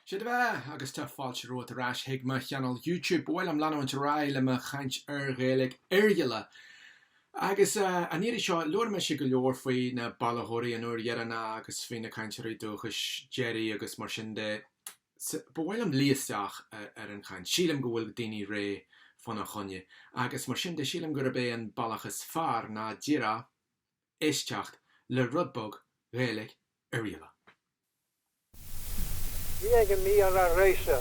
'Sé do bheatha, agus tá fáilte romhat ar ais chuig mo chainéal YouTube. Ba mhaith liom leanúint ar aghaidh le mo chaint ar Ghaeilge Oirghialla. Agus an iarraidh seo, labhair mise go leor faoi na bailitheoirí an uair dheireanach agus faoi na cainteoirí dúchais deiridh agus mar sin de. Ba mhaith liom luí isteach ar an chaint. Sílim go bhfuil daoine réidh fana choinne. Agus mar sin de, sílim gurb é an bealach is fearr ná díreach éisteacht le rud beag Ghaeilge Oirghialla. Bhí ag Mícheál Róise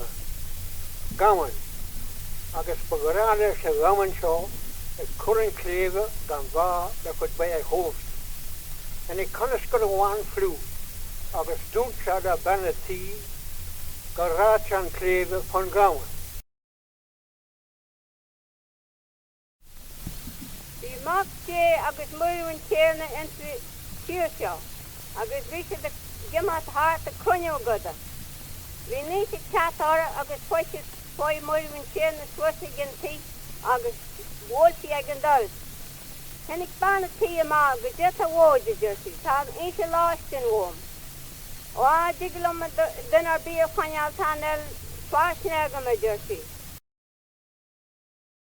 gamhain, agus ba ghnách leis a' ghamhain seo a chur an tsléibhe gan bha le cuid bídh a thabhairt. Tháinig coineascar amháin fliuch agus dúirt sé le bean a' tí go rachadh sé an tsléibhe fán ghamhain. Bhí Mac Dé agus Muire an Tiarna insa tír seo agus bhí siad ag imeacht thart ag cruinniú a gcodach. Bhí an oíche ag teacht orthu agus thoisigh chuaigh Muire an Tiarna suas ag an tigh agus bhuail sí ag an doras. Tháinig bean a tí amach goidé atá uaid, a deir sí, tá an oíche lóistín uaim. Ó, cha dtig liom duine ar bith a choinneáil chan fheil fairsinge agam, a deir sí.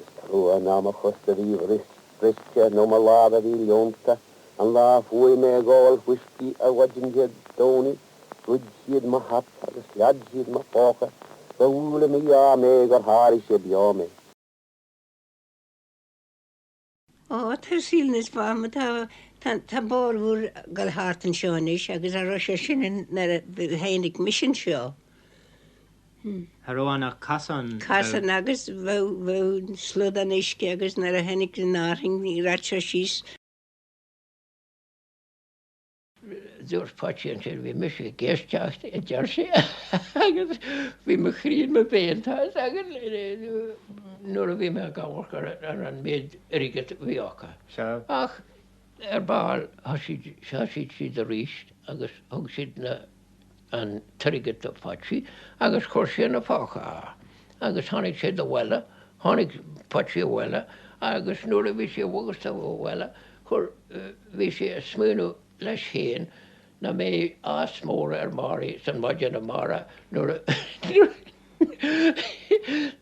Is trua nach mo chos a bhí briste nó mo lámh a bhí leonta an lá a chuaigh mé ag ól fuiscí ar maidin Dé Domhnaigh. Ghoid siad mo hata agus shlad siad mo phóca. Gur bhuail an mí-ádh mé gur sháraigh sé beo mé. Ó, tá saol níos fearr, tá, tá, tá bóthar úr ag dul thart anseo anois agus cha raibh sé sin ann, nuair a tháinig mise anseo. Hm. Cha raibh ann ach casán, bheadh. Casán agus bheadh, bheadh slodán uisce agus nuair a tháinig an fhearthainn, rachadh sé síos, Dúirt Patsy ansin bhí mise ag éisteacht, a deir sé, agus bhí mo chroí in mo bhéal, tá 'fhios agat, nuair a bhí mé ag amharc ar an méid airgid a bhí acu. Sea. Ach ar ball thoisigh siad arís agus thug siad na. an t-airgead do Phatsy agus chuir sé ina phóca é agus tháinig sé do bhaile, tháinig Patsy abhaile agus nuair a bhí sé i bhfogas don bhaile chuir, bhí sé a smaoineamh leis féin nach mbeidh áthas mór ar Mary san maidin amárach nuair a, nuair a,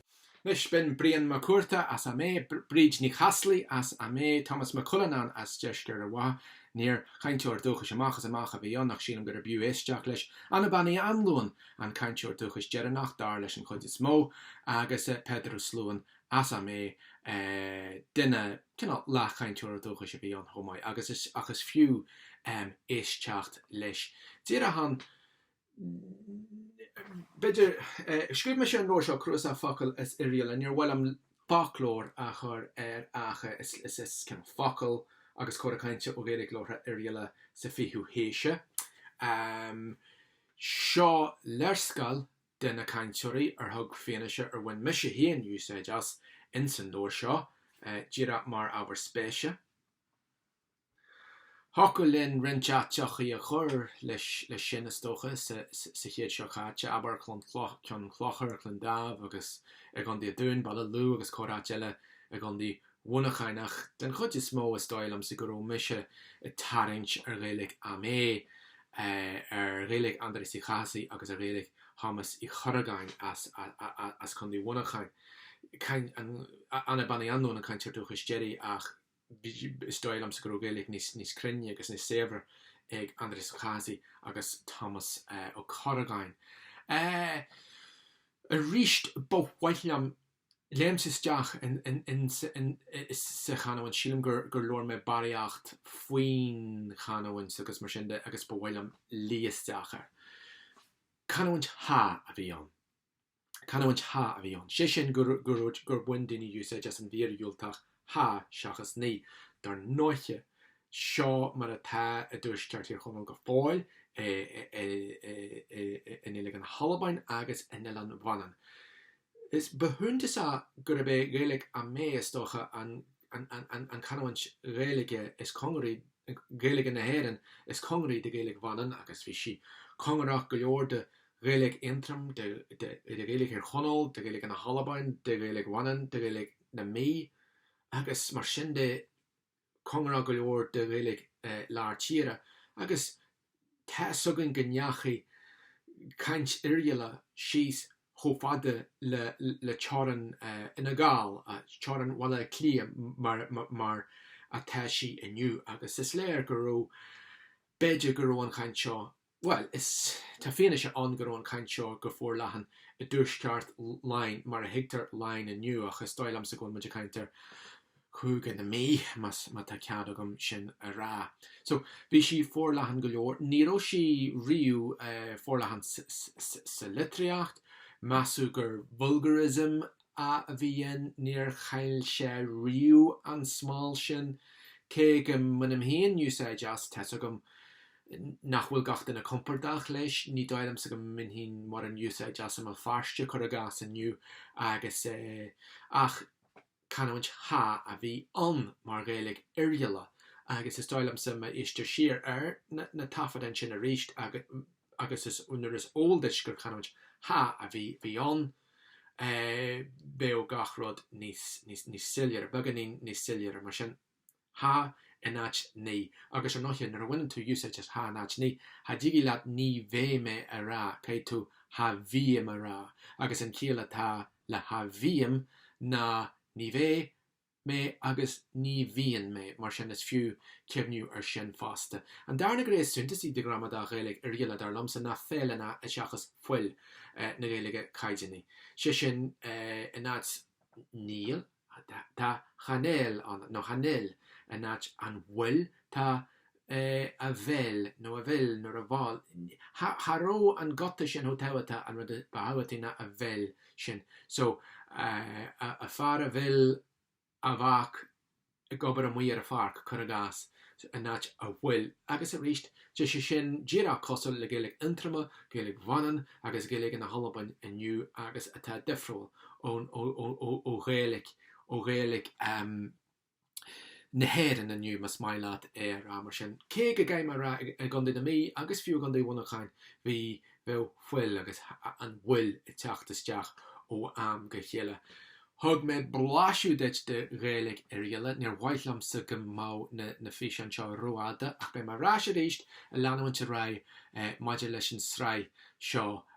Anois binn, Brian Mac Cuarta as Ó Méith, Bríd Ní Chaslaigh as Ó Méith, Tomás Mac Cuilleanáin as Deisceart Ard Mhacha, níor chainteoir dúchais amach is amach a bhí ann, ach sílim gurb fhiú éisteacht leis, Anna Bean Uí Anluain, an cainteoir dúchais deireanach, dar leis an chuid is mó, agus Peadar Ó Sluáin as Ó Méith, duine, cineál, leathchainteoir dúchais a bhí ann chomh maith, agus is, ach is fiú éisteacht leis. Díreach an. B'fhéidir. Scríobh mise an leabhar seo, Cnuasach Focal as Oirialla. Níor mhaith liom 'foclóir' a chur air ach is focail agus cora cainte ó Ghaeilge labhartha Oirialla sa 20ú haois é. Seo léarscáil de na cainteoirí ar thug fianaise ar bhain mise féin úsáid as ins an leabhar seo, díreach mar ábhar spéise. Thiocfadh linn roinnt áiteachaí a chur leis sin, is dócha, sa chéad seo caite, abair, Ceann Chlochair, Cluain Daimh agus, i gContae an Dúin, Baile Lú agus corr-áit eile i gContae Mhuineacháin, ach den chuid is mó, is dóigh liomsa go raibh mise ag tarraingt ar Ghaeilge Ó Méith, ar Ghaeilge Aindrias Uí Chathasaigh agus ar Ghaeilge Thomáis Uí Chorragáin as Contae Mhuineacháin. Anna Bean Uí Anluain an cainteoir dúchais deiridh, ach. is dóigh liomsa go raibh Gaeilge níos cruinne agus níos saibhre ag Aindrias Ó Cathasaigh agus Tomás Ó Corragáin. Aríst, ba mhaith liom, léimse isteach sa chanúint, sílim gur labhair mé barraíocht faoin chanúint agus mar sin agus ba mhaith liom luí isteach air. Canúint cha a bhí ann. Canúint cha a bhí ann, sé sin go raibh, gur bhain daoine úsáid as an mhír dhiúltach cha seachas ní. Dar ndóiche, seo mar atá i dtuaisceart Thír Chonaill go fóill, i nGaeilge na hAlban agus in Oileán Mhanann. Is ba shuntasach gurb é Gaeilge Ó Méith, is dócha, an chanúint Ghaeilge is cóngaraí, Gaeilge na hÉireann, is cóngaraí do Ghaeilge Mhanann agus bhí sí cóngarach go leor do Ghaeilge Aontroim, de Ghaeilge Thír Chonaill, de Ghaeilge na hAlban, de Ghaeilge Mhanann, de Ghaeilge na Mí, agus mar sin de, cóngarach go leor do Ghaeilge Lár Tíre, agus tá's againn go ndeachaigh caint Oirghialla síos chomh fada le teorainn Fhine Gall, teorainn Bhaile Átha Cliath mar atá sí inniu, agus is léir go raibh, b'fhéidir go raibh an chaint seo Bhuel, is tá fianaise ann go raibh an chaint seo go forleathan i dtuaisceart Laighin, mar a thuigtear Laighin inniu, ach is dóigh liomsa go bhfuil muid ag caint ar Chúige na Mí, más, má tá cead agam sin a rá. So, bhí sí forleathan go leor. Ní raibh sí riamh forleathan sa litríocht. Measadh gur vulgarism a. a bhí ann, níor chaill sé riamh an smál sin, cé go mbainim féin úsáid as, tá's agam nach bhfuil gach duine compordach leis, ní dóigh liomsa go mbainfinn mórán úsáid as i mBéal Feirste, cur i gcás, inniu, agus ach canúint cha a bhí ann mar Ghaeilge Oirghialla, agus is dóigh liomsa má éistear siar ar na taifeadáin sin arís agus nuair is eol duit gur canúint cha a bhí ann, bheadh gach rud níos soiléire, beagáinín níos soiléire. Mar sin, cha in áit ní. Agus, ar ndóiche, nuair a bhaineann tú úsáid as cha in áit ní, cha dtigidh leat ní bheidh mé a rá, caithfidh tú cha bhím a rá. Agus an chiall atá le cha bhím ná ní bheidh mé agus ní bhíonn mé, mar sin is fiú cuimhniú ar sin fosta. An darna gné is suntasaí de ghramadach Ghaeilge Oirghialla dar liomsa ná feil ann seachas fuil na Gaeilge caighdeánaí. Sé sin in áit níl, tá chan fheil ann, nó chan fheil, in áit an bhfuil, tá a bheil nó a bheil nó a bheil, cha rabh an guta sin chomh tábhachtach, an rud ba thábhachtaí ná a bheil sin. So, a fear a bheil a mhac ag obair amuigh ar a pháirc, cur i gcás, in áit a bhfuil. Agus aríst, tá sé sin díreach cosúil le Gaeilge Aontroma, Gaeilge Mhanann agus Gaeilge na hAlban inniu agus atá difriúil ó Ghaeilge na hÉireann inniu, más maith leat é a rá mar sin. Cé go gcaithfidh mé a rá, i gContae na Mí agus fiú i gContae Mhuineacháin, bhí, bheadh fuil agus an bhfuil ag teacht isteach ó am go chéile. Thug mé blaiseadh duit de Ghaeilge Oirghialla. Níor mhaith liomsa go mbeadh na, na físeáin seo rófhada ach beidh mé ar ais arís ag leanúint ar aghaidh maidir leis an sraith seo